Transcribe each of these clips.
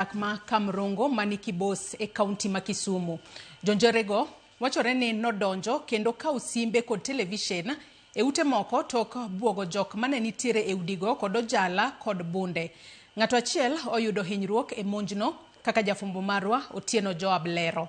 dak ma Kamrongo ma ni Kibos e kaunti ma Kisumu. Jonjorego wachore ni nodonjo kendo kawo simbe kod televisen e ute moko tok bwogo jok mane nitiere e udigo kod ojala kod bunde. Ng'ato achiel oyudo hinyruok e monjno kaka jafwambo marwa Otieno Joab lero.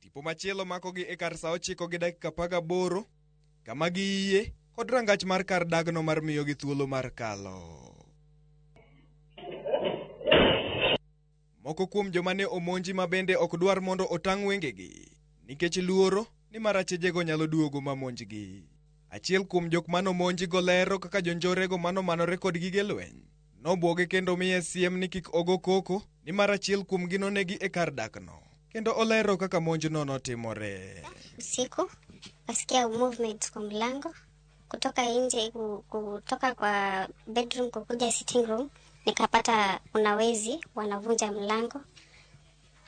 Tipo machielo makogi e kar sa ochiko gi dakika paga boro kama gi iye kod rangach mar kar dagno mar miyo gi thuolo mar kalo. Moko kuom joma ne omonji ma bende ok dwar mondo otang' wengegi nikech luoro ni marachejego nyalo duogo ma monjgi. Achiel kuom jok mano monji go lero kaka jonjorego mano manore kod gige lweny Nobwoge kendo miye siem ni kik ogo koko, nimar achiel kuomgi nonegi e kar dakno. Kendo olero kaka monjno notimore. Usiku nasikia movement kwa mlango kutoka nje, ku- kutoka kwa bedroom kukuja sitting room, nikapata kuna wezi wanavunja mlango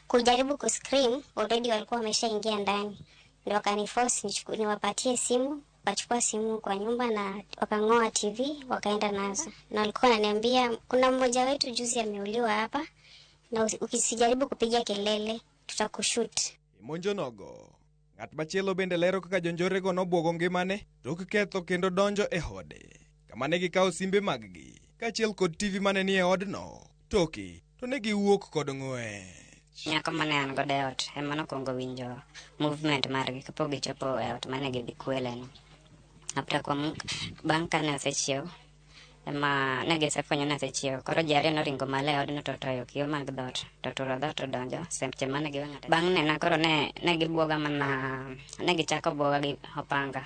kujaribu kuscream, already walikuwa wameshaingia ndani, ndo wakaniforce nichuku- niwapatie simu Wakachukua simu kwa nyumba na wakang'oa TV wakaenda nazo, na walikuwa wananiambia kuna mmoja wetu juzi ameuliwa hapa, na usi- ukisijaribu kupiga kelele tutakushut. Imonjo nogo. Ng'at machielo bende lero kaka jonjorego nobwogo ngimane tok ketho kendo donjo e ode, kama ne gikawo simbe mag-gi, kaachiel kod TV mane ni e odno. toke, to ne giwuok kod ng'wech. Nyako mane an godo e ot ema nokwongo winjo movement margi kapok gichopo e ot mane gidhi kweleno. After kuom bang' kane osechiew ema ne gisefwenyo ni osechiew. Koro ji ariyo noringo malo e odno to toyo kiyo mag dhoot to turo dhoot to donjo seche mane giwang'ata. Bang' nena koro ne, ne gibwoga mana ne gichako bwoga gi opanga.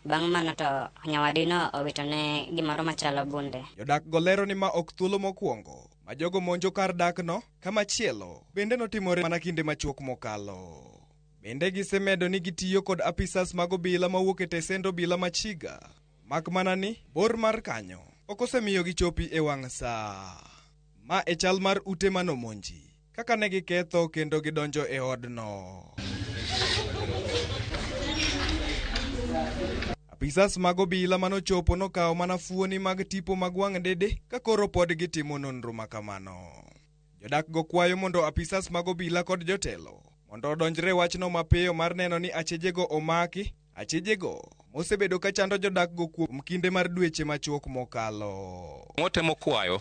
Bang' mano to nyawadino owitone gimoro machalo bunde. Jodakgo lero ni ma ok thuolo mokwongo ma jogo monjo kar dakno, ka machielo bende notimore mana kinde machuok mokalo. Bende gisemedo ni gitiyo kod apisas mag obila mawuok e tesend obila ma Chiga, mak mana ni bor mar kanyo ok osemiyo gichopi e wang' sa. Ma e chal mar ute manomonji. Kaka ne giketho kendo gidonjo e odno. Apisas mag obila manochopo nokawo mana fuoni mag tipo mag wang' dede ka koro pod gitimo nonro ma kamano. Jodakgo kwayo mondo apisas mag obila kod jotelo mondo odonjre wachno mapiyo mar neno ni achejego omaki, achejego mosebedo ka chando jodakgo kuom kinde mar dweche machuok mokalo. Watemo kwayo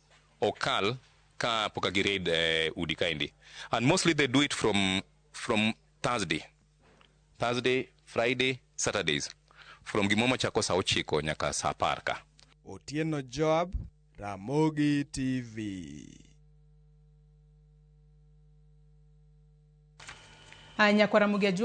ok kal ka poka gi raid eh, udi kaendi and mostly they do it from from Thursday Thursday Friday Saturdays from gimoro machako saa ochiko nyaka saa apar ka Otieno Joab, Ramogi TV. Nyakwara Mugia